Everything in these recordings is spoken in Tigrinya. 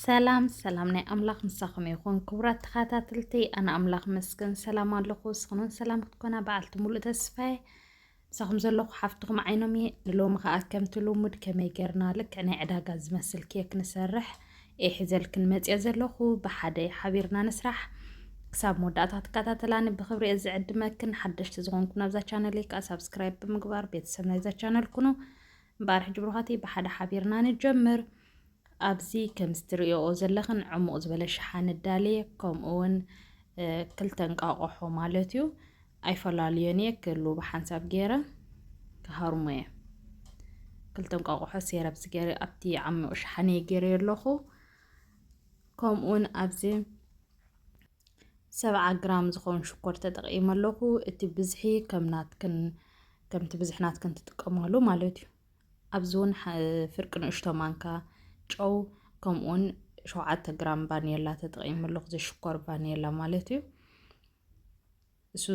ሰላም ሰላም ናይ ኣምላኽ ምሳኹም ይኹን ክቡራት ተኸታተልቲ ኣነ ኣምላኽ መስገን ሰላም ኣለኹ ስኽኑን ሰላም ክትኮና በዓልቲ ሙሉእ ተስፋዬ ምሳኹም ዘለኹ ሓፍትኹም ዓይኖም እየ ንሎሚ ከዓ ከምቲ ልሙድ ከመይ ጌርና ልክዕ ናይ ዕዳጋ ዝመስል ኬክ ንሰርሕ እየ ሒዘልክን መፅኦ ዘለኹ ብሓደ ሓቢርና ንስራሕ ክሳብ መወዳእታ ትከታተላኒ ብክብሪ እየ ዝዕድመክን ሓደሽቲ ዝኾንኩም ናብዛ ቻነል ከዓ ሳብስክራይብ ብምግባር ቤተሰብ ናይዛ ቻነል ኩኑ እምበኣር ሕጂ ብሩኻትይ ብሓደ ሓቢርና ንጀምር ኣብዚ ከምዚ ትርእዮኦ ዘለኽን ዕሙቕ ዝበለ ሸሓኒ ዳልየ ከምኡ ውን ክልተ እንቃቆሖ ማለት እዩ ኣይፈላለዮን እየ ክሉ ብሓንሳብ ገይረ ክሃርሞ እየ ክልተ እንቋቑሖ ሴር ኣብዚ ገይረ ኣብቲ ዓሚቑ ሸሓነ ገይረ ኣለኹ ከምኡውን ኣብዚ ሰብዓ ግራም ዝኾን ሽኮር ተጠቂመ ኣለኹ እቲ ብዝሒ ከም ናትክን ከምቲ ብዝሒ ናትክን ትጥቀማሉ ማለት እዩ ኣብዚ እውን ፍርቂ ንእሽቶ ማንካ ጨው ከምኡ እውን ሸውዓተ ግራም ቫኒላ ተጠቒሙ ኣለኹ ዘሽኮር ቫኒላ ማለት እዩ እሱ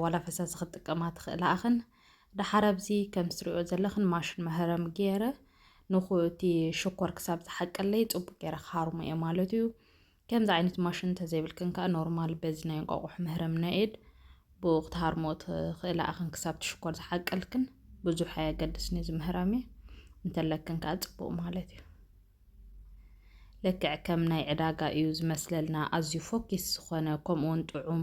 ዋላ ፈሳሲ ክትጥቀማ ትኽእላ ኣኽን ደሓር ኣብዚ ከም ትሪኦ ዘለኽን ማሽን መህረም ገይረ ንኹ እቲ ሽኮር ክሳብ ዝሓቀለይ ፅቡቅ ገይረ ክሃርሞ እየ ማለት እዩ ከምዚ ዓይነት ማሽን እንተዘይብልክን ከኣ ኖርማል በዚ ናይ እንቋቑሖ መህረሚ ናይ ኢድ ብኡ ክትሃርሞ ትኽእላ እኽን ክሳብቲ ሽኮር ዝሓቀልክን ብዙሕ ኣየገድስን እዚ ምህራሚ እንተለክን ከኣ ጽቡቕ ማለት እዩ ልክዕ ከም ናይ ዕዳጋ እዩ ዝመስለልና ኣዝዩ ፎኪስ ዝኾነ ከምኡውን ጥዑም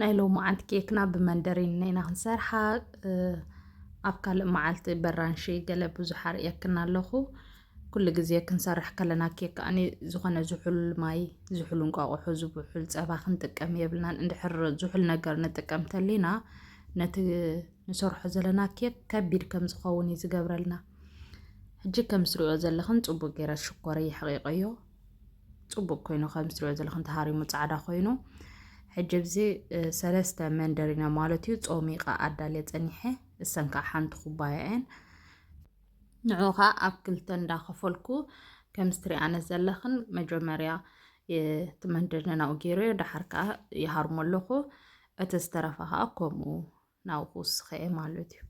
ናይ ሎማዓንቲ ኬክና ብመንደሪን ኢና ክንሰርሓ ኣብ ካልእ መዓልቲ በራንሺ ገለ ብዙሕ ኣርእየክና ኣለኹ ኩሉ ግዜ ክንሰርሕ ከለና ኬክ ኣነ ዝኾነ ዝሑል ማይ ዝሑል እንቋቑሖ ዝሑል ፀባ ክንጥቀም የብልናን እንድሕር ዝሑል ነገር ንጥቀም ተሊና ነቲ ንሰርሖ ዘለና ኬክ ከቢድ ከም ዝኸውን እዩ ዝገብረልና ሕጂ ከም ዝሪኦ ዘለኽን ፅቡቅ ገይረ ሽኮር የሕቂቀዮ ፅቡቅ ኮይኑ ከምዚ ትሪኦ ዘለኹም ተሃሪሙ ፃዕዳ ኮይኑ ሕጂ ብዚ ሰለስተ መንደሪና ማለት እዩ ፆሚቃ ኣዳልየ ፀኒሐ እሰን ከዓ ሓንቲ ኩባያ እየን ንዑ ከዓ ኣብ ክልተ እንዳኸፈልኩ ከምዚ ትሪኣነ ዘለኽን መጀመርያ እቲ መንደሪና ናብኡ ገይረ ዳሓር ከዓ ይሃርሞ ኣለኹ እቲ ዝተረፈ ከዓ ከምኡ ናብኡ ክውስኸ ማለት እዩ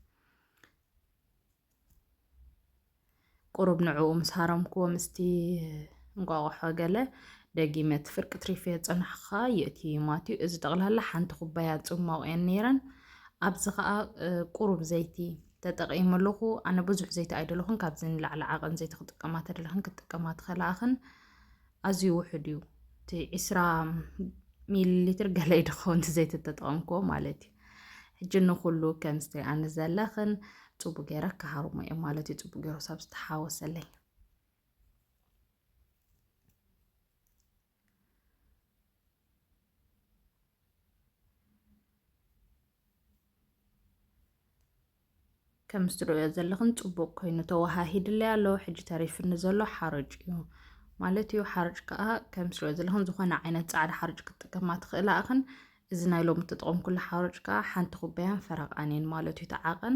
ቁሩብ ንዕኡ ምስ ሃረምክዎ ምስቲ እንቋቑሖ ገለ ደጊመ እቲ ፍርቂ ትሪፌ ጸናሕኻ የእትዩ ማትዩ እዚ ጠቕላላ ሓንቲ ኩባያ ጽሟቕ እየን ነይረን ኣብዚ ከዓ ቁሩብ ዘይቲ ተጠቒሙ ኣለኹ ኣነ ብዙሕ ዘይቲ ኣይደለኹን ካብዚ ንላዕሊ ዓቐን ዘይቲ ክጥቀማ ተደለኽን ክትጥቀማ ትኸላኽን ኣዝዩ ውሑድ እዩ እቲ ዕስራ ሚሊሊትር ገለ እዩ ድኸውን እቲ ዘይቲ እተጠቐምክዎ ማለት እዩ ሕጂ ንኹሉ ከም ዝትሪኣኒ ዘለኽን ፅቡቅ ገይረ ክሃርሞ እየ ማለት እዩ ፅቡቅ ገይሩ ሰብ ዝተሓወሰለይ ከምዚ ትርእዮ ዘለኽን ጽቡቅ ኮይኑ ተወሃሂድለይ ኣሎ ሕጂ ተሪፍኒ ዘሎ ሓርጭ እዩ ማለት እዩ ሓርጭ ከዓ ከምዚ ትርእዮ ዘለኽን ዝኾነ ዓይነት ጻዕዳ ሓርጭ ክትጥቀማ ትኽእላ እኽን እዚ ናይ ሎሚ እተጠቐምኩሉ ሓርጭ ከዓ ሓንቲ ኩባያን ፈረቃን እየን ማለት እዩ ተዓቐን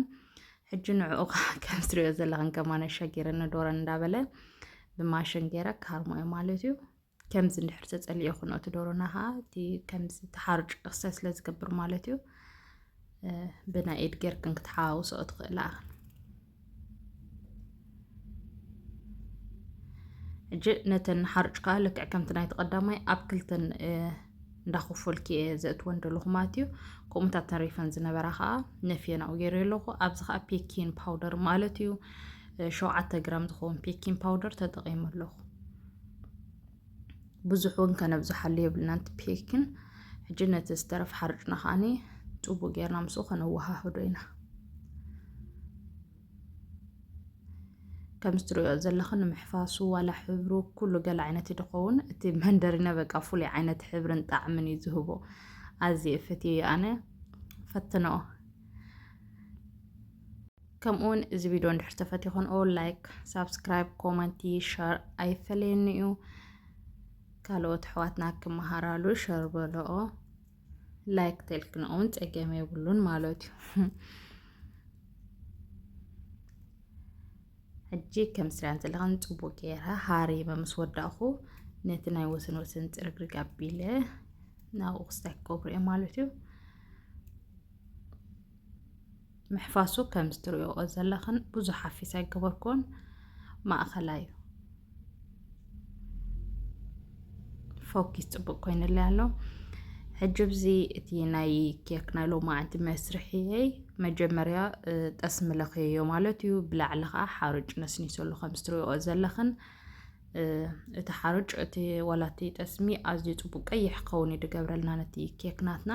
ሕጂ ንዕኡ ከዓ ከምዚ ትርእዮ ዘለኽን ከማነ ሸጊርኒ ዶረን እንዳበለ ብማሽን ገይረ ካርሞ እዩ ማለት እዩ ከምዚ እንድሕር ተጸሊኦ ኩኖ እቲ ዶሮና ከዓ እቲ ከምዚ ተሓርጩ ክሰ ስለ ዝገብር ማለት እዩ ብናይ ኢድ ጌርክን ክትሓዋውስኦ ትኽእላ ሕጂ ነተን ሓርጭ ከዓ ልክዕ ከምቲ ናይ ተቐዳማይ ኣብ ክልተን እንዳኸፈልኪ እየ ዘእትወን ደለኹ ማለት እዩ ከምኡታት ተሪፈን ዝነበራ ከዓ ነፍየን ኣብኡ ገይረ ኣለኹ ኣብዚ ከዓ ፔኪን ፓውደር ማለት እዩ ሸውዓተ ግራም ዝኸውን ፔኪን ፓውደር ተጠቒሙ ኣለኹ ብዙሕ እውን ከነብዝሓሉ የብልናን እቲ ፔክን ሕጂ ነቲ ዝተረፍ ሓርጭና ከዓኒ ፅቡቅ ጌርና ምስኡ ከነወሃህዶ ኢና ከምዚ ትሪኦ ዘለኺ ንምሕፋሱ ዋላ ሕብሩ ኩሉ ገለ ዓይነት እዩ ድኸውን እቲ መንደሪነ በቃ ፍሉይ ዓይነት ሕብርን ጣዕምን እዩ ዝህቦ ኣዝየ ፈትየ ኣነ ፈትነኦ ከምኡውን እዚ ቪድዮ እንድሕር ተፈቲኹንኦ ላይክ ሳብስክራይብ ኮመንቲ ሸር ኣይፈለየኒ እዩ ካልኦት ኣሕዋትና ክመሃራሉ ሸር በልኦ ላይክ ተልክንኦ እውን ፀገም የብሉን ማለት እዩ ሕጂ ከም ስሪያን ዘለኻን ፅቡቅ ገይረ ሃሪመ ምስ ወዳእኹ ነቲ ናይ ወሰን ወሰን ፅርግርግ ኣቢለ ናብኡ ክስታይ ክገብሩ እየ ማለት እዩ ምሕፋሱ ከምዚ ትሪእኦ ዘለኽን ብዙሕ ሓፊስ ኣይገበርኩን ማእኸላይ እዩ ፎኪስ ፅቡቅ ኮይንለ ኣሎ ሕጂ ብዚ እቲ ናይ ኬክ ናይ ሎማዓንቲ መስርሕየይ መጀመርያ ጠስሚ ለኽየዮ ማለት እዩ ብላዕሊ ከዓ ሓርጭ ነስኒሰሉ ከም ዝትሪኦ ዘለኽን እቲ ሓርጭ እቲ ዋላቲ ጠስሚ ኣዝዩ ፅቡቅ ቀይሕ ክኸውን እዩ ድገብረልና ነቲ ኬክ ናትና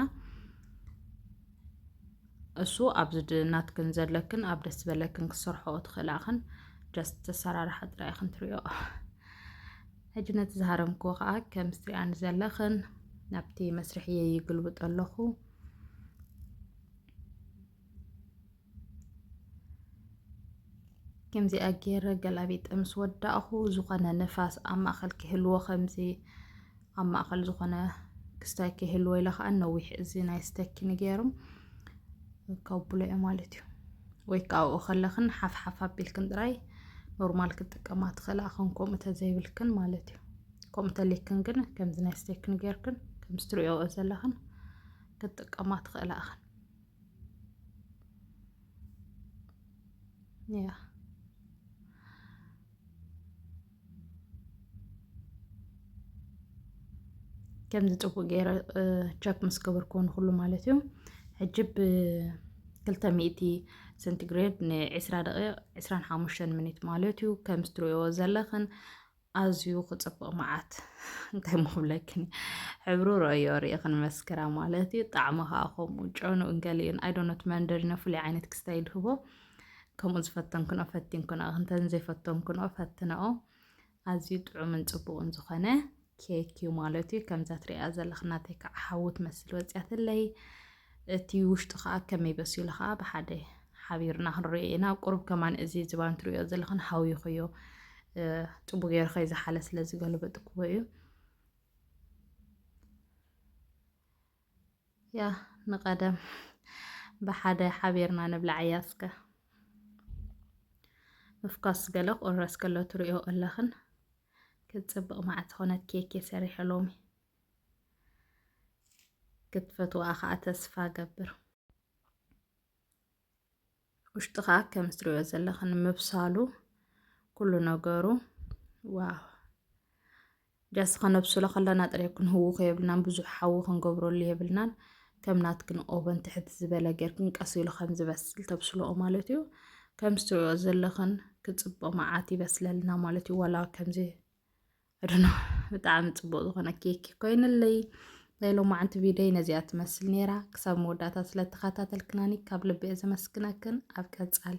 እሱ ኣብዚ ናትክን ዘለክን ኣብ ደስ ዝበለክን ክሰርሖ ትኽእላ ኢኽን ጀስት ተሰራርሓ ጥራይ ኢኽን ትሪኦ ሕጂ ነቲ ዝሃረምክዎ ከዓ ከም ዝትሪኣኒ ዘለኽን ናብቲ መስርሕ እየ ይግልብጦ ኣለኹ ከምዚኣ ገይረ ገላቢጠ ምስ ወዳእኹ ዝኾነ ንፋስ ኣብ ማእኸል ክህልዎ ከምዚ ኣብ ማእኸል ዝኾነ ክስታይ ከይህልዎ ኢለ ከዓ ነዊሕ እዚ ናይ ስተኪ ንገይሮም ከብሎ እየ ማለት እዩ ወይ ከዓ ኣብኡ ከለኽን ሓፍሓፍ ኣቢልክን ጥራይ ኖርማል ክትጥቀማ ትኽእላ ኸን ከምኡ ተዘይብልክን ማለት እዩ ከምኡ ተልክን ግን ከምዚ ናይ ስተክን ጌርክን ከምዚ ትሪኦ ዘለኽን ክትጥቀማ ትኽእላ ኸን ያ ከምዚ ጥቡቅ ገይረ ቸክ ምስ ገበርኩ ንኩሉ ማለት እዩ ሕጂ ብክልተ ሚእቲ ሰንቲግሬድ ንዕስራ ደቂቅ ዕስራን ሓሙሽተን ሚኒት ማለት እዩ ከም ዝትሪእዎ ዘለኽን ኣዝዩ ክፅብቅ መዓት እንታይ ምብለክን ሕብሩ ረዮ ርኢኽን መስክራ ማለት እዩ ጣዕሚ ከዓ ከምኡ ጨኑ እንገሊኡን ኣይዶነት መንደሪኖ ፍሉይ ዓይነት ክስታይ ይድህቦ ከምኡ ዝፈተንክንኦ ፈቲንክንኦ እንተን ዘይፈተንክንኦ ፈትንኦ ኣዝዩ ጥዑምን ጽቡቕን ዝኾነ ኬክ እዩ ማለት እዩ ከምዛ ትሪኣ ዘለኽ ናተይ ከዓ ሓዊ ትመስል ወፅያትለይ እቲ ውሽጡ ከዓ ከመይ በሲሉ ከዓ ብሓደ ሓቢርና ክንሪኦ ኢና ቁሩብ ከማን እዚ ዝባን ትሪኦ ዘለኽን ሓዊኹ እዩ ፅቡ ገይሩ ከይዝሓለ ስለ ዝገልበጥክዎ እዩ ያህ ንቀደም ብሓደ ሓቢርና ንብላዓያ እስከ ምፍኳስ ገለ ቁረስ ከሎ ትሪኦ ኣለኽን ክትፅብቕ መዓት ዝኾነት ኬኬ ሰሪሐ ሎሚ ክትፈትዋ ከዓ ተስፋ ገብር ውሽጢ ከዓ ከም እትሪኦ ዘለኽን ምብሳሉ ኩሉ ነገሩ ዋው ጃስ ከነብስሎ ከለና ጥረ ክንህውኾ የብልናን ብዙሕ ሓዊ ክንገብረሉ የብልናን ከም ናትክን ኦቨን ትሕት ዝበለ ጌርክን ቀስ ኢሉ ከም ዝበስል ተብስልኦ ማለት እዩ ከምዚ ትሪኦ ዘለኽን ክፅቦ መዓት ይበስለልና ማለት እዩ ዋላ ከምዚ እድኖ ብጣዕሚ ፅቡቅ ዝኾነ ኬክ ኮይንለይ ናይ ሎማዓንቲ ቪድዮ ነዚኣ ትመስል ነይራ ክሳብ መወዳእታ ስለተኸታተልክናኒ ካብ ልቢ እየ ዘመስግነክን ኣብ ቀፃሊ